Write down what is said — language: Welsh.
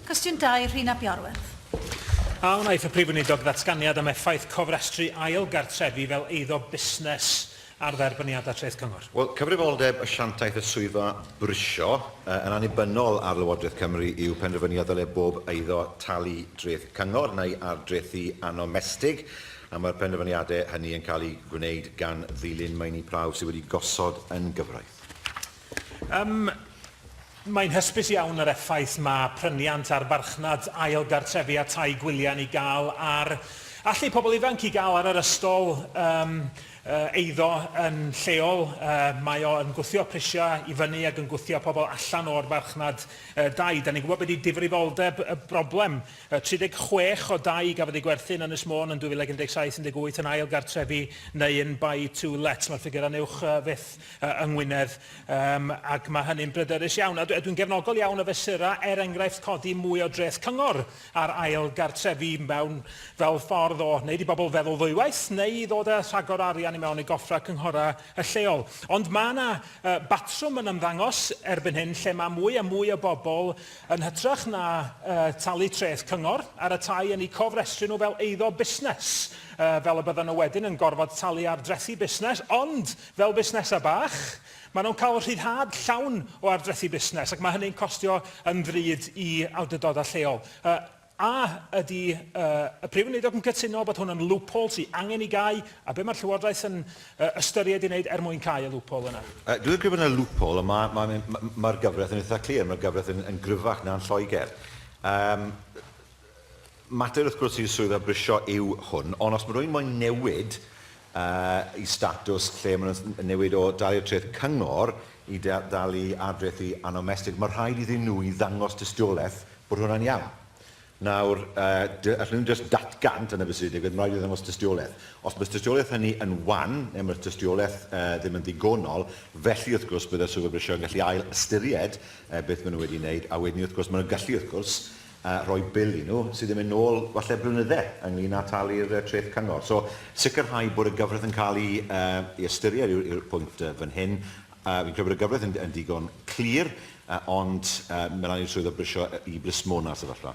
Cwestiwn 2, Rhun ap Iorwerth. A wnaiff y Prif Weinidog ddatganiad am effaith cofrestru ail gartrefi fel eiddo busnes ar dderbyniadau Treth Cyngor? Wel, cyfrifoldeb asiantaeth y swyddfa brisio yn annibynnol ar Lywodraeth Cymru yw penderfynu a ddylai bob eiddo talu Dreth Cyngor neu ardrethi annomestig, a mae'r penderfyniadau hynny yn cael eu gwneud gan ddilyn meini prawf sydd wedi gosod yn gyfraith. Ym, Mae'n hysbys iawn yr effaith mae pryniant ar farchnad ail gartrefi a tai gwyliau yn ei gael ar allu pobl ifanc i gael ar yr ystol ym, eiddo yn lleol. Mae o yn gwthio prisiau i fyny ac yn gwthio pobl allan o'r farchnad dai. Da ni'n gwybod be di difrifoldeb y broblem. 36 o dai gafodd eu gwerthu yn Ynys Môn yn 2017 yn 18 yn ail gartrefi neu yn buy to let. Mae'r ffigurau'n uwch fyth. yng Ngwynedd, um, ac mae hynny'n bryderus iawn. A dwi'n gefnogol iawn o fesurau, er enghraifft codi mwy o dreth cyngor ar ail gartrefi mewn fel ffordd o wneud i bobl feddwl ddwywaith neu i ddod â rhagor arian i mewn i goffrau cynghorau y lleol. Ond mae yna uh, batrwm yn ymddangos erbyn hyn lle mae mwy a mwy o bobl yn hytrach na uh, talu treth cyngor ar y tai yn eu cofrestru nhw fel eiddo busnes, uh, fel y bydden nhw wedyn yn gorfod talu ar drethi busnes, ond Fel busnesau bach, maen nhw'n cael rhyddhad llawn o ardrethi busnes ac mae hynny'n costio yn ddrud i awdurdodau lleol. A ydy y Prif Weinidog yn cytuno bod hwn yn loophole sy angen ei gau, a be mae'r Llywodraeth yn ystyried ei wneud er mwyn cau y loophole yna? Dwi yn credu bod yna loophole, ond mae'r ma, ma, ma gyfraith yn eitha' clir, mae'r gyfraith yn, yn gryfach na'n Lloegr. Yym, Mater wrth gwrs i'r swyddfa brisio yw hwn, ond os mae rhywun moyn newid yy i statws lle maen nhw'n newid o dalu treth cyngor i dalu ad-dreth i annomestig, mae rhaid iddyn nhw i ddangos tystiolaeth bod hwnna'n iawn. Nawr, yy allen nhw ddim jyst datgan, dyna beth sydd wedi digwydd, mae rhaid i nhw ddangos tystiolaeth. Os mae'r tystiolaeth hynny yn wan, neu mae'r tystiolaeth yy ddim yn ddigonol, felly wrth gwrs bydde'r swyddfa brisio yn gallu ail-ystyried yy beth maen nhw wedi wneud, a wedyn ni wrth gwrs maen nhw'n gallu wrth gwrs a rhoi bil i nhw sydd yn mynd nôl falle blynyddau ynglŷn â talu'r treth cyngor. So, sicrhau bod y gyfraith yn cael ei ystyried yw'r pwynt fan hyn. Fi'n credu bod y gyfraith yn ddigon clir, ond mae'n rhaid i'r swyddog brisio i blismona'r sefyllfa.